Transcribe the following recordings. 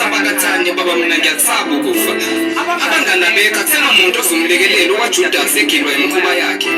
abakathandi baba mina ngiyakusaba ukufa abangani abekho akusena muntu ozomlekelela uwajudasi egilwa imikhuba yakhe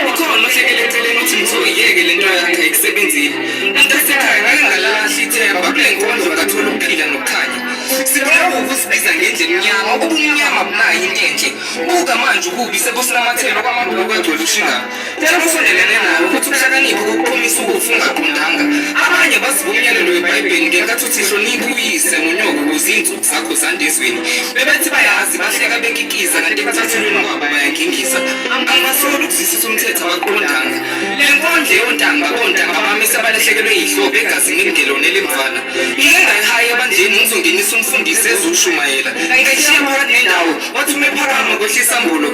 ikhona ohlekele eceleni ukuthi mthoyiyeke le nto yakhe ayisebenzile umntasekhaya ngake ngalahla ithemba kule nkondlo ngathola ukuphila nokukhanya sibulawa ukusibiza ngendlela emnyama ubumnyama bunayo into enhle buka manje ukubi sebusinamathelo kwamabhuku kwegcwele ushingana Tshela obusondelene nawe ukuthi ukuhlakanipha kokuphumisa ukufa ungaqondanga. Abanye baziba umyalelo weBhayibheli ngenkathi uthi hlonipha uyise nonyoko ukuze izinsuku zakho zande ezweni. Bebethi bayazi bahleka bekikiza kanti ekuthathulweni kwabo bayangingisa. Angibasoli ukuzwisisa umthetho abaqondanga. Le nkondlo yontanga bontanga bamisa abalahlekelwe yihlobo egazini elingelona elimfana. Ngike ngayihayi ebandleni ngizongenisa umfundisi ezushumayela. Ngayishiya phakathi nendawo wathi uma ephakama kwehlisa mbulo